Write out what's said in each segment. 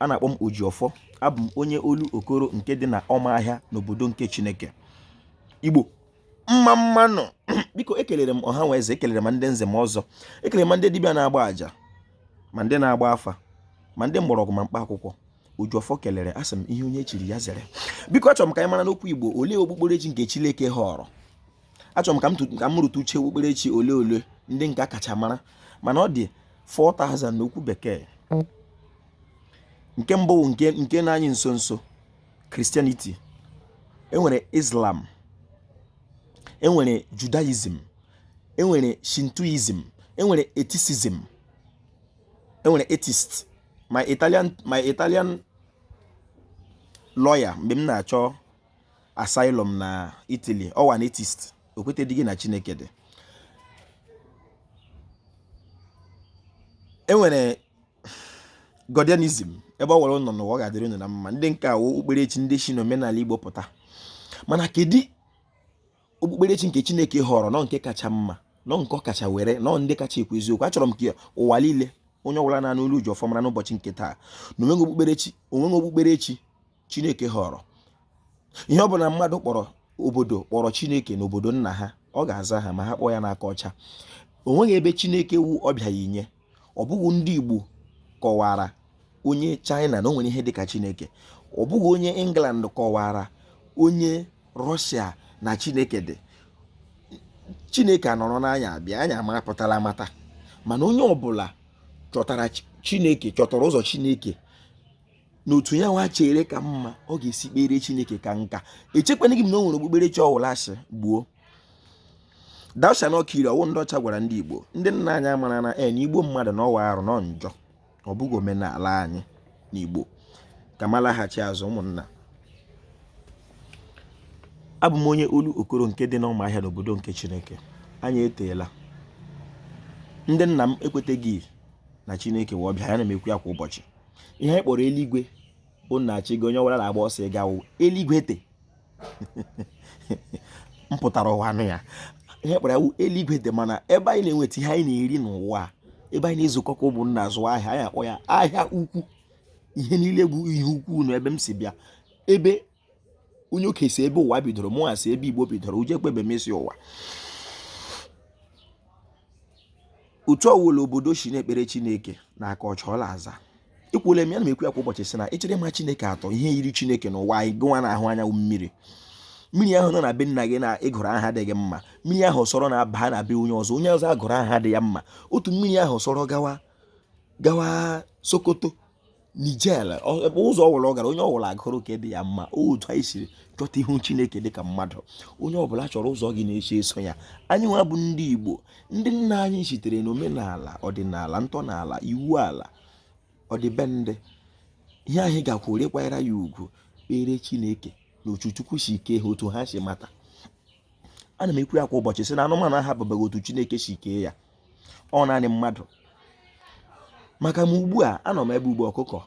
a na-akpọ m Ojiọfọ abụ m onye Olokoro nke dị na ọmahịa n'obodo nke Chineke Igbo mma mma nụ biko ekelere m ọha na eze ekelere ma ndị nze ma ọzọ ekelere ma ndị dibịa na-agba àjà ma ndị na-agba afa ma ndị mgbọrọgwụ ma mkpa akwụkwọ Ojiọfọ kelere asị m ihe onye chiri ya zere biko achọrọ m ka anyị mara n'okwu Igbo olee okpukperechi nke Chineke họrọ achọrọ m ka m tu- ka m rụtụ uche okpukperechi ole ole ndị nke a kacha mara mana ọ dị 4000 n'okwu bekee nke mbụ bụ nke nke nọ anyị nso nso Christianity enwere Islam enwere Judaism enwere Shintoism enwere atheism enwere atheist my Italian my Italian lawyer mgbe m na-achọ asylum na Italy ọ wụ an atheist o kwetedịghị na Chineke dị enwere godianism ebe ọwụla unu nọ n'ụwa ọ ga-adịrị unu na mma ndị nke a wụ okpukperechi ndị si n'omenala Igbo pụta mana kedu okpukperechi nke Chineke họrọ nọ nke kacha mma nọ nke ọ kacha were nọ ndị kacha ekwu eziokwu achọrọ m ka ụwa niile onye ọbụla na-anụ olu Ojiọfọ mara n'ụbọchị nke taa na onweghị okpukperechi onweghị okpukperechi chineke họrọ ihe ọ bụla mmadụ kpọrọ obodo kpọrọ chineke na obodo nna ha ọ ga-aza ha ma ha kpọọ ya n'aka ọcha o nweghị ebe chineke wụ ọbịa ya inye ọ bụghị ndị igbo kọwara onye china na o nwere ihe dịka chineke ọ bụghị onye england kọwara onye russia na chineke dị chineke anọrọ n'anya abịa anya ma apụtala amata mana onye ọbụla chọtara chineke chọtara ụzọ chineke na otu ya nwa chere ka mma ọ ga-esi kpere chineke ka nka echekwanaghị m na o nwere okpukperechi ọwụla sị gbuo thou shalt not kill ọ wụ ndị ọcha gwara ndị igbo ndị nna anyị amara na en igbu mmadụ na ọ wụ arụ nọ njọ ọ bụghị omenala anyị na igbo ka m laghachi azụ ụmụnna abụ m onye olokoro nke dị n'ụmụahịa n'obodo nke chineke anyị eteela ndị nna m ekweteghị na chineke wụ ọbịa ana m ekwu ya kwa ụbọchị ihe anyị kpọrọ eluigwe bụ nna achị gị onye ọbụla na-agba ọsọ ịga ụwa eluigwe te m pụtara ụwa nụ ya ihe kpọrọ ya eluigwe te mana ebe anyị na-enweta ihe anyị na-eri n'ụwa ebe anyị na-ezukọ ka ụmụnna azụ ahịa anyị akpọ ya ahịa ukwu ihe niile bụ ihe ukwu na ebe m si bịa ebe onye oke si ebe ụwa bidoro mụ asị ebe igbo bidoro uje kpebe m isi ụwa otu ọwụla obodo si na-ekpere chineke na aka ọcha ọ la-aza ekwuola m ya na m ekwu ya kwa ụbọchị sị na ị chọrọ ịma chineke otu ihe yiri chineke n'ụwa anyị gụwa na-ahụ anya wụ mmiri mmiri ahụ nọ na be nna gị na ị gụrụ aha dị gị mma mmiri ahụ sọrọ na-aba na be onye ọzọ onye ọzọ agụrụ aha dị ya mma otu mmiri ahụ sọrọ gawa gawa sokoto niger ebe ụzọ ọbụla ọ gara onye ọbụla agụrụ ka dị ya mma otu anyị siri chọta ihu chineke dịka mmadụ onye ọbụla chọrọ ụzọ ọ ga na-esi eso ya anyị nwa bụ ndị igbo ndị nna anyị sitere n'omenala ọdịnala ntọala iwu ala ọdịbendị ihe anyị ga-akwụrụ kwanyere ya ugwu kpere chineke na otu chukwu si kee ha otu ha si mata ana m ekwu ya kwa ụbọchị sị na anụmanụ ahapụbeghị otu chineke si kee ya ọ naanị mmadụ maka m ugbu a anọ m ebe ugbo ọkụkọ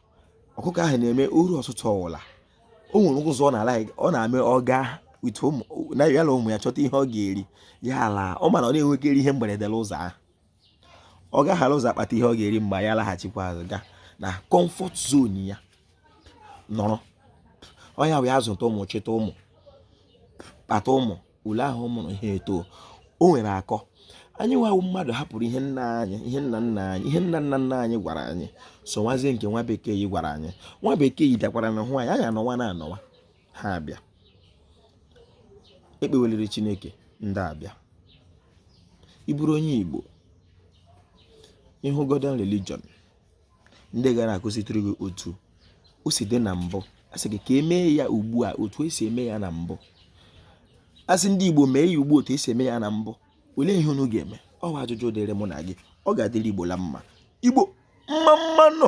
ọkụkọ ahụ na-eme o ruo ụtụtụ ọwụla o nwere ụzọ ọ na-ala ọ na-eme ọ gaa utu ụmụ na ya na ụmụ ya chọta ihe ọ ga-eri ya ala ọ ma na ọ na-enwekarị ihe mberede n'ụzọ ahụ ọ gaghara ụzọ akpata ihe ọ ga-eri mgbe ya laghachikwa azụ gaa na kọmfọt zon ya nọrọ ọ ya wee azụta ụmụ chịta ụmụ kpata ụmụ ule ahụ ọ mụrụ ihe eto o nwere akọ anyị nwa wụ mmadụ hapụrụ ihe nna anyị ihe nna nna anyị ihe nna nna nna anyị gwara anyị sowazie nke nwa bekee yi gwara anyị nwa bekee yi bịakwaranụ hụ anyị anyị anọwana anọwa ha abịa ekpeweliri chineke ndị a abịa ị bụrụ onye igbo ị hụ godian religion ndị ga na-akụzitụrụ gị otu o si dị na mbụ a sị gị ka e mee ya ugbu a otu e si eme ya na mbụ a sị ndị Igbo mee ya ugbu otu e si eme ya na mbụ olee ihe unu ga-eme ọ bụ ajụjụ dịrị mụ na gị ọ ga-adịrị Igbo la mma Igbo mma mma nụ